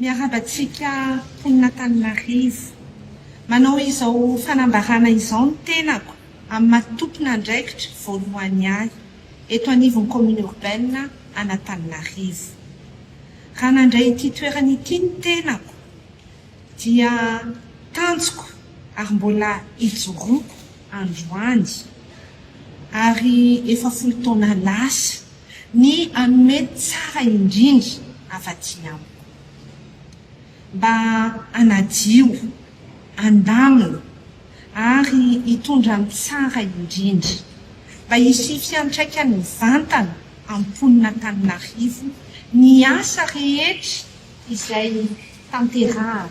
Miarahaba antsika mponina tany Marivo. Manao izao fanambarana izao ny tenako amin'ny maha tompon'andraikitra voalohany ahy eto anivon'ny Commune Urbaine an'Antananarivo. Raha nandray ity toerana ity ny tenako dia tanjoko ary mbola ijoroako androany ary efa folo taona lasa ny hanome tsara indrindra afa-tsy amiko. Mba hanadio, handamina, ary hitondra ny tsara indrindra, mba hisy fiantraikany mivantana amin'ny mponin'Antananarivo ny asa rehetra izay tanterahana.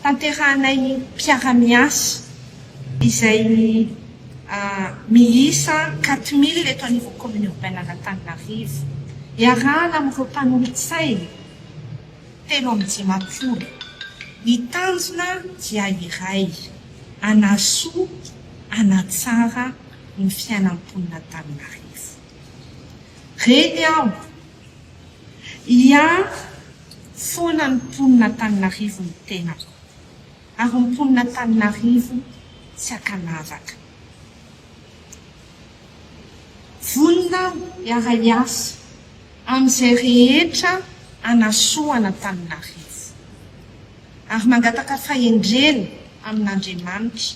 Tanterahanay ny mpiara-miasa izay miisa quatre mille eto anivon'ny Commune Urbaine an'Antananarivo. Iarahana amin'ireo mpanolotsainy telo amby dimampolo. Ny tanjona dia iray, hanasoa, hanatsara ny fiainam-ponin'Antananarivo. Reny aho. Hiahy foana ny mponin'Antananarivo ny tenako, ary ny mponin'Antananarivo tsy hakanavaka. Vonona aho hiara-hiasa amin'izay rehetra hanasoa an'Antananarivo, ary mangataka fahendrena amin'Andriamanitra.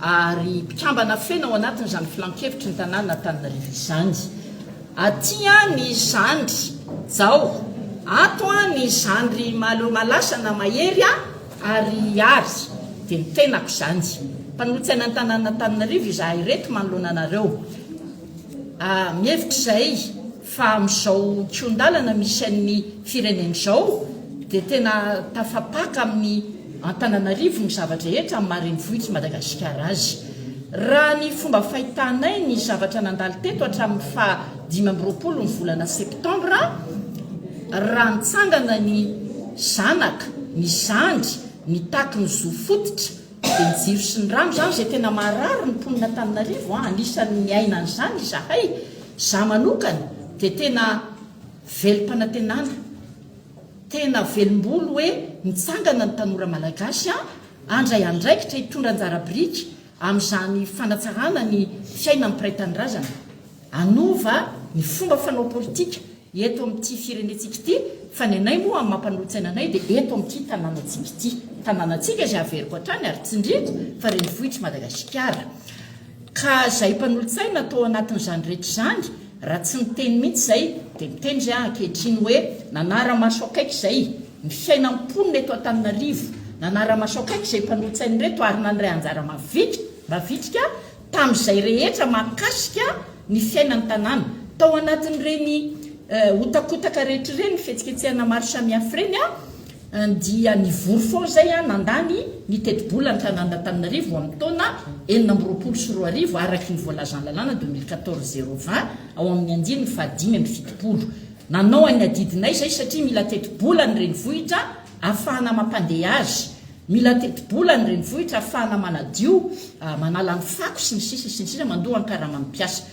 ary mpikambana feno ao anatin'izany filankevitry ny tanàn'Antananarivo izany. Aty an i zandry Jao, ato an i zandry Malo Malasa na Mahery an, ary ary dia ny tenako izany. Mpanolotsaina ny tanàn'Antananarivo izahay ireto manoloana anareo. Mihevitra izay. fa amin'izao kihon-dalana misy an'ny firenena izao dia tena tafapaka amin'ny Antananarivo ny zava-drehetra amin'ny maha renivohitr'i Madagasikara azy. Raha ny fomba fahitanay ny zavatra nandalo teto hatramin'ny faha dimy amby roapolo ny volana septambra, raha nitsangana ny zanaka, ny zandry, nitaky ny zo fototra dia ny jiro sy ny rano izany izay tena maharary ny mponin'Antananarivo an, anisan'ny niaina an'izany izahay, Za manokana dia tena velom-panantenana, tena velom-bolo hoe mitsangana ny tanora malagasy an, handray andraikitra hitondra anjara biriky amin'izany fanatsarana ny fiainan'ny mpiray tanindrazana, hanova ny fomba fanao politika eto amin'ity firenentsika ity fa ny anay moa amin'ny maha-mpanolotsaina anay dia eto amin'ity tanànantsika ity, tanànantsika izay averiko hatrany ary tsindriako fa renivohitr'i Madagasikara. Ka zay mpanolotsaina tao anatin'izany rehetra izany raha tsy niteny mihitsy zay dia miteny zay ankehitriny hoe nanara-maso akaiky zay ny fiainan'ny mponina eto Antananarivo, nanara-maso akaiky izay mpanolotsaina reto ary nandray anjara mavitrika tamin'izay rehetra mahakasika ny fiainan'ny tanàna. Tao anatin'ireny hotakotaka rehetra ireny, fihetsiketsehana maro samihafa ireny, Andia nivory foana izay aho nandany ny tetibola ny tanàn'Antananarivo amin'ny taona enina amby roapolo sy roa arivo araky ny voalazan'ny lalàna deux mille quatorze zéro vingt ao amin'ny andininy fahadimy amby fitopolo. Nanao an'ny adidinay izay satria mila tetibola ny renivohitra ahafahana mampandeha azy, mila tetibola ny renivohitra ahafahana manadio, manala ny fako sy ny sisa sy ny sisa, mandoa ny karaman'ny mpiasa.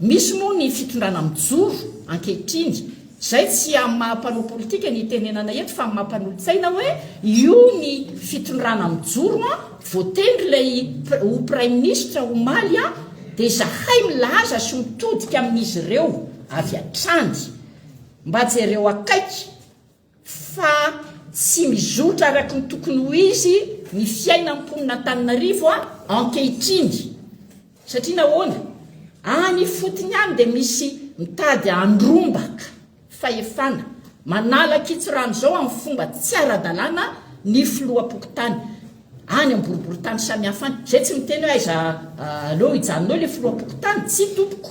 Misy moa ny fitondrana mijoro ankehitriny, izay tsy amin'ny maha mpanao politika ny itenenana eto fa amin'ny maha mpanolotsaina hoe io ny fitondrana mijoro an, voatendry ilay ho praiminisitra omaly an, dia izahay milaza sy mitodika amin'izy ireo avy hatrany. Mba jereo akaiky. fa tsy mizotra araky ny tokony ho izy ny fiainan'ny mponin'Antananarivo ankehitriny, satria nahoana? any ifotony any dia misy mitady handrombaka fahefana, manala an-kitsirano izao amin'ny fomba tsy ara-dalàna ny filoham-pokontany any amin'ny boriborintany samihafa any, izay tsy miteny hoe aiza aleo hijanona eo ilay filoham-pokontany, tsia tompoko,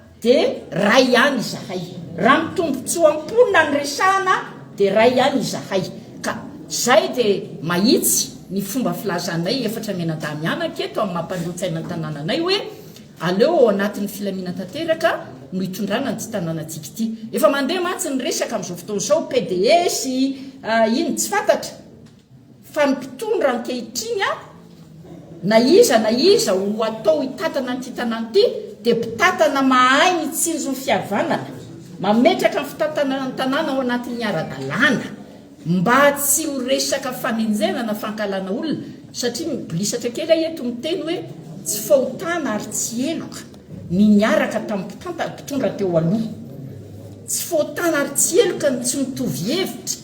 dia ray ihany izahay. Raha ny tombontsoa am-ponina no resahana dia ray ihany izahay. Ka izay dia mahitsy ny fomba filazanay efatra mianadahy mianaka eto amin'ny maha-mpanolo-tsaina ny tanànanay hoe aleo ao anatin'ny filamina tanteraka no hitondrana an'ity tanànantsika ity. Efa mandeha mantsy ny resaka amin'izao fotoana izao, PDS, inona tsy fantatra. Fa ny mpitondra ankehitriny an, na iza na iza ho atao hitantana an'ity tanàna ity dia mpitantana mahay mitsinjo ny fihavanana, mametraka ny fitantanana ny tanàna ao anatin'ny ara-dalàna mba tsy ho resaka fanenjehana na fankahalana olona satria mibolisatra kely aho eto miteny hoe tsy fahotana ary tsy heloka ny niaraka tamin'ny mpitantana, mpitondra teo aloha. Tsy fahotana ary tsy heloka ny tsy mitovy hevitra.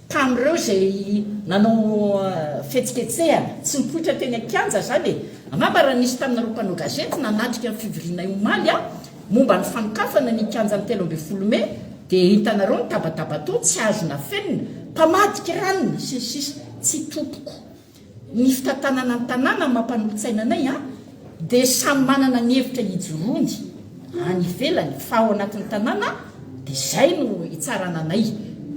Tamin'ireo izay nanao fihetsiketsehana tsy nipoitra teny an-kianja izany e! Angamba raha nisy taminareo mpanao gazety nanatrika ny fivorianay omaly aho momba ny fanokafana ny kianjan'ny telo ambin'ny folo mey dia hitanareo ny tabataba tao tsy azo nafenina, mpamadika ranona sy ny sisa Tsy topoko. Ny fitantanana ny tanàna mampanolo-tsaina anay an, dia samy manana ny hevitra hijoroany any ivelany fa ao anatin'ny tanàna dia izay no hitsarana anay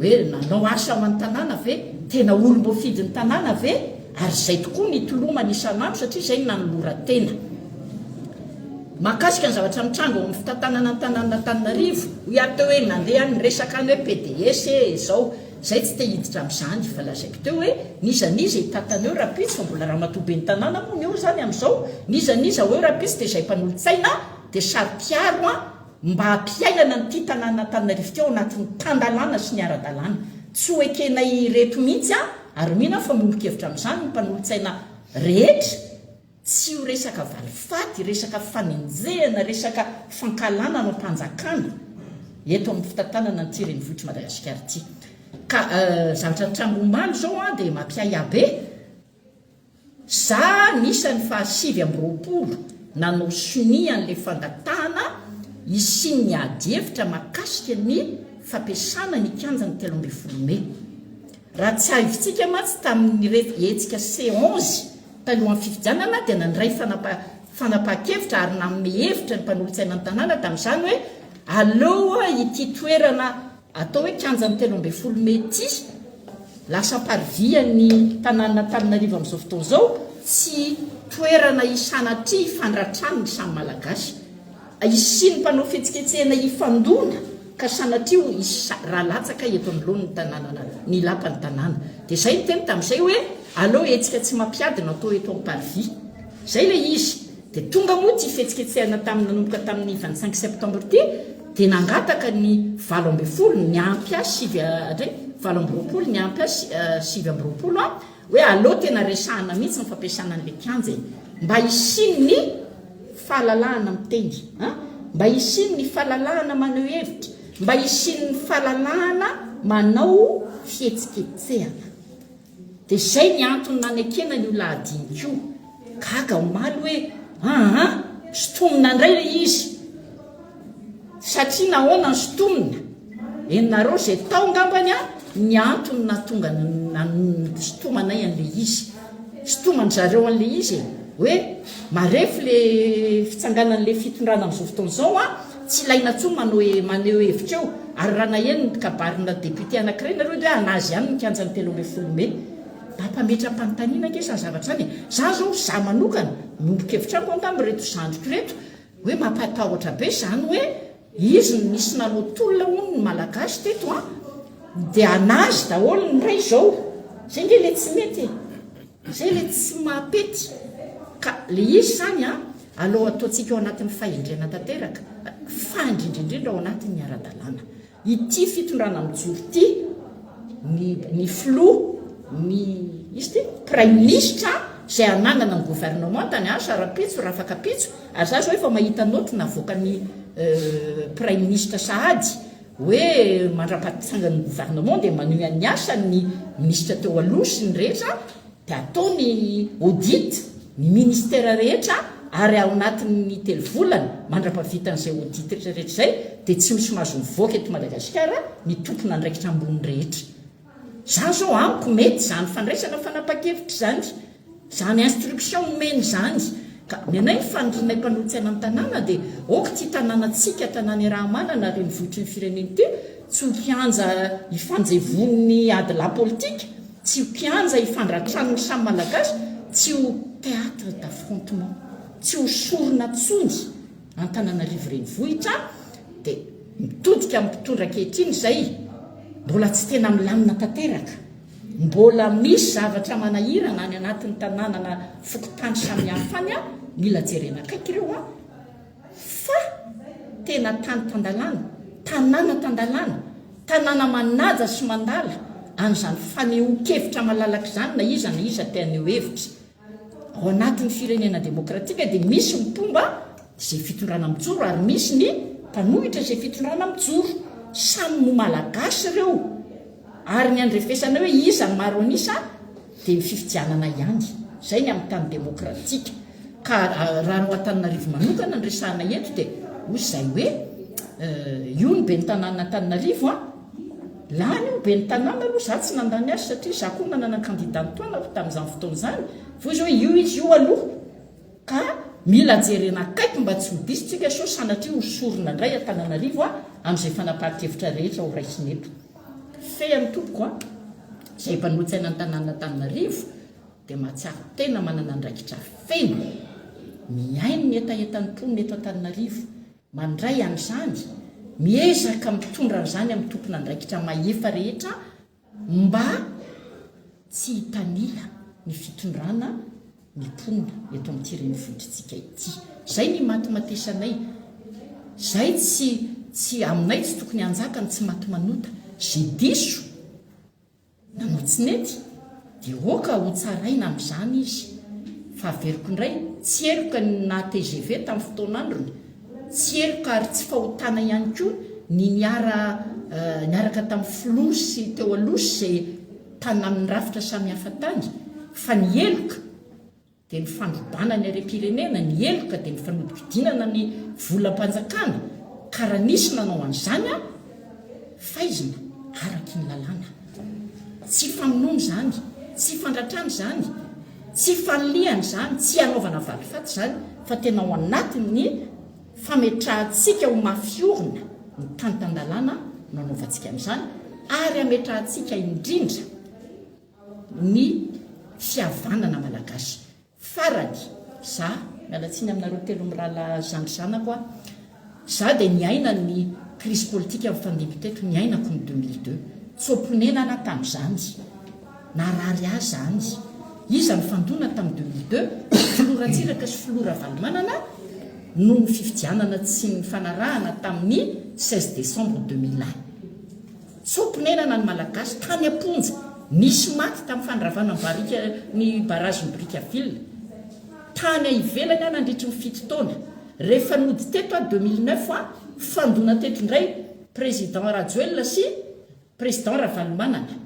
hoe nanao asa ho an'ny tanàna ve? Tena olom-boafidin'ny tanàna ve? Ary izay tokoa ny hitolomany isan'andro satria izay no nanoloran-tena. Mahakasika ny zavatra mitranga ao amin'ny fitantanana ny tanànan'Antananarivo, hoy aho teo hoe nandeha ny resaka any hoe PDS ee izao, Zay tsy te hiditra amzany fa lazaiko teo hoe n'iza n'iza hitantana eo rapitso fa mbola ramatoa ben'ny tanàna moa ny eo zany amzao n'iza n'iza ao eo rapitso de zay mpanolotsaina de saro piaro an mba hampiainana ny ty tanàna Antananarivo ty ao anatin'ny tan-dalàna sy ny ara-dalàna tsy ho ekenay ireto mihitsy an ary mino aho fa miombon-kevitra amzany ny mpanolotsaina rehetra Tsy io resaka valifaty, resaka fanenjehana, resaka fankahalana ny fanjakana eto amin'ny fitantanana an'ity renivohitr'i Madagasikara ity. Ka zavatra nitranga omaly izao dia mampiahiahy be. Za anisan'ny fahasivy amby roapolo nanao sonia an'ilay fangatahana hisian'ny adihevitra mahakasika ny fampiasana ny kianjan'ny telo ambin'ny folo mey. Raha tsiahivintsika mantsy tamin'irefy hetsika CONGE, Talohan'ny fifidianana dia nandray fanapahan-kevitra ary nanome hevitra ny mpanolotsaina ny tanàna tamin'izany hoe aleo ity toerana atao hoe kianjan'ny telo ambin'ny folo mey ity lasa parivian'ny tanànan'Antananarivo amin'izao fotoana izao sy toerana isanatria hifandratrany ny samy Malagasy. Hisian'ny mpanao fihetsiketsehana hifandona ka sanatria ho hisy sa raha latsaka eto anoloan' ny tanànana ny lapan'ny tanàna. Dia izay ny teny tamin'izay hoe, aleo hetsika tsy mampiady no atao eto Amparivihy. Izay ilay izy. Dia tonga moa ity fihetsiketsehana tamin'ny nanomboka tamin'ny vingt cinq septembre ity dia nangataka ny valo ambin'ny folo, ny ampy ahy sivy, hatray, valo amby roapolo, ny ampy ahy sivy amby roapolo an! Hoe aleo tena resahana mihitsy ny fampiasana an'ilay kianja e! Mba hisian'ny fahalalahana miteny an! Mba hisian'ny fahalalahana maneho hevitra, mba hisian'ny fahalalahana manao fihetsiketsehana. Dia izay ny antony nanekena an'io lahadinika io. Gaga omaly hoe aa! Sotomina indray ilay izy. Satria nahoana no sintonina? Henonareo izay tao ngambany an, ny antony nahatonga nisintomanay an'ilay izy. Sintoman-dry zareo an'ilay izy e. Hoe marefo ilay fitsanganan'ilay fitondrana amin'izao fotoana izao an, tsy ilaina intsony manao maneho hevitra eo. Ary raha naheno ny kabarina député anankiray nareo dia hoe hanazy ihany ny kianjan'ny telo ambin'ny folo mey. Mba mpametra-panontaniana ange izany zavatra izany e. Izaho izao, izaho manokana, miombon-kevitra amiko angamba ireto zandriko ireto, Hoe mampatahotra be zany hoe izy no nisy nanao tolona hono ny malagasy teto an! Dia anazy daholo ny ray zao! Zay nge le tsy mety e! Zay le tsy mahapety! Ka le izy zany an! Alou ataontsika ao anatin'ny fahendrena tanteraka, fa indrindra indrindra ao anatin'ny ara-dalàna! Ity fitondrana mijoro ity, ny ny filoha, ny iza ity? Praiminisitra izay hanangana ny governementany an, sa rahampitso, rafakapitso? Ary za zao efa mahita note navoakan'ny praiminisitra sahady hoe mandrapaha-pitsangan'ny governement dia manohy an'ny asany ny minisitra teo aloha sy ny rehetra, dia atao ny audit ny ministera rehetra ary ao anatin'ny telo volana mandra-pavitan'izay audit retraretra izay dia tsy misy mahazo mivoaka eto Madagasikara ny tompon'andraikitra ambony rehetra izany izao amiko mety izany fandraisana fanapa-kevitra izany izany instruction nomeny izany ka ny anay ny fanirianay mpanohitsy any an-tanàna dia ok ity tanànantsika tanàna iaraha-manana renivohitry ny firenena ity Tsy ho kianja ifanjevoan'ny ady lahy politika, tsy ho kianja ifandratran'ny samy Malagasy, tsy ho théâtre d'affrontement, tsy ho sorona tsony Antananarivo Renivohitra dia mitodika amin'ny mpitondra ankehitriny izay mbola tsy tena milamina tanteraka, mbola misy zavatra manahirana any anatin'ny tanànana fokontany samihafa any, mila jerena akaiky ireo an. Fa tena tany tan-dalàna, tanàna tan-dalàna, tanàna manaja sy mandala an'izany fanehoan-kevitra malalaka izany na iza na iza te haneho hevitra. Ao anatin'ny firenena demokratika dia misy ny mpomba izay fitondrana mijoro ary misy ny mpanohitra izay fitondrana mijoro. Samy Malagasy ireo ary ny handrefesana hoe iza no maro an'isa, Dia ny fifidianana ihany. Izay ny amin'ny tany demokratika. Ka raha anao Antananarivo manokana no resahana eto dia hoy izay hoe io ny ben'ny tanàna Antananarivo an! Lany io ny ben'ny tanàna aloha, izaho tsy nandany azy satria izaho koa nanana ny kandida nitoanako tamin'izany fotoana izany. Fa hoy izy hoe io izy io aloha. Ka mila jerena akaiky mba tsy ho diso tsika sao sanatria ho sorona indray Antananarivo amin'izay fanapahan-kevitra rehetra ho raisina eto. Fehiny tompoko a! Izay efa notsaina ny tanànan'Antananarivo dia mahatsiaro tena manana andraikitra feno mihaino ny hetahetan'ny mponina eto Antananarivo, mandray an'izany, miezaka mitondra an'izany amin'ny tompon'andraikitra mahefa rehetra mba. Tsy hitanila ny fitondrana ny mponina eto amin'ity renivohitr'tsika ity. Zay ny imatimatesanay. Zay tsy tsy aminay tsy tokony hanjaka ny tsy maty manota. Ze diso nanao tsy nety de oka ho tsaraina amzany izy. Fa averiko indray, tsy heloka ny naha tgv tam fotoan'androny, tsy heloka ary tsy fahotana ihany koa ny niara niaraka tam filoha sy teo aloha sy ze tana amin'ny rafitra samihafa tany fa ny heloka dia ny fandrobana ny harem-pirenena, ny heloka dia ny fanodinkodinana ny volam-panjakana ka raha nisy nanao an'izany an, faizina araky ny lalàna. Tsy famonoana izany, tsy fandratrana izany, tsy fanilihana izany, tsy hanaovana valifaty izany fa tena ao anatin'ny. fametrahantsika ho mafy orina ny tany tan-dalàna no anaovantsika an'izany ary hametrahantsika indrindra ny fihavanana malagasy. Farany, za, miala tsiny aminareo telo mirahalahy zandry zanako a, za dia niaina ny crise politique nifandimby teto, niainako ny deux mille deux, tsy ho ponenana tamin'izany. Narary ahy izany. Iza nifandona tamin'ny deux mille deux? Filoha Ratsiraka sy Filoha Ravalomanana noho ny fifidianana tsy nifanarahana tamin'ny seize décembre deux mille un. Tso-ponenana ny Malagasy tany am-ponja. Nisy maty tamin'ny fandravana ny barika ny barazin'i Brickaville. Tany ivelany aho nandritry ny fito taona. Rehefa nody teto aho deux mille neuf an, fandona teto indray Président Rajoelina sy Président Ravalomanana.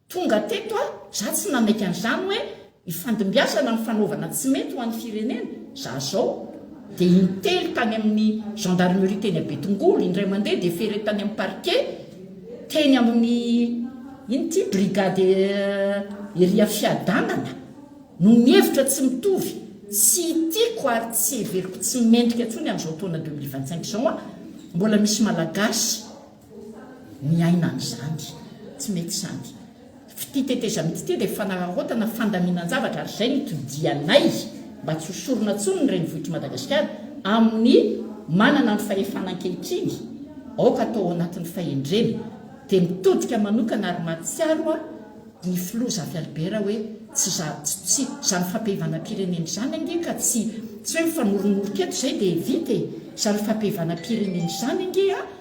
Tonga teto aho, za tsy namaika an'izany hoe hifandimbiasana ny fanaovana tsy mety ho an'ny firenena, za zao dia intely tany amin'ny gendarmerie teny à Betongolo, indray mandeha dia ferré tany amin'ny parquet teny amin'ny ino ity brigade ery afiadanana no mihevitra tsy mitovy, tsy tiako ary tsy heveriko tsy mendrika intsony amin'izao taona deux mille vingt-cinq izao an, mbola misy malagasy miaina an'izany. Tsy mety izany. Fitia tetezamita ity dia fanararaotana, fandaminan-javatra ary izay no itodihanay mba tsy ho sorona intsony ny renivohitr'i Madagasikara amin'ny manana ny fahefana ankehitriny. Aoka atao ao anatin'ny fahendrena. Dia mitodika manokana ary mahatsiaro aho ny filoha Zafy Albert hoe tsy za, tsy, izany fampihevanam-pirenena izany ange ka tsy, tsy hoe mifanoronoronka eto izay dia vita e! Izany fampihevanam-pirenena izany ange a!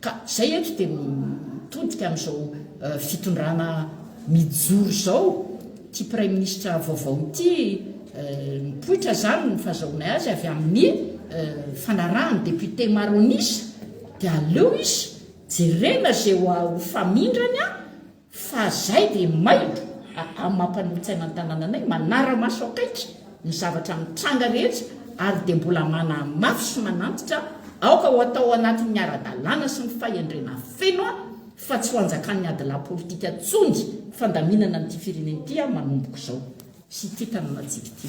Ka izay eto dia mitodika amin'izao fitondrana mijoro izao, ity praiminisitra vaovao ity, mipoitra izany ny fahazahoanay azy avy amin'ny fanarahan'ny député maro an'isa, dia aleo izy jerena izay ho famindrany an! Fa zay de maido a am maha mpanolo-tsaina ny tanananay manara-maso akaiky ny zavatra mitranga rehetra ary de mbola manahy mafy sy manantitra aoka ho atao anatin ny ara-dalàna sy ny fahendrena feno a fa tsy ho anjakan ny adilahy politika tsony fandaminana an ity firenena ity a manombok zao sy ity tanànantsika ity.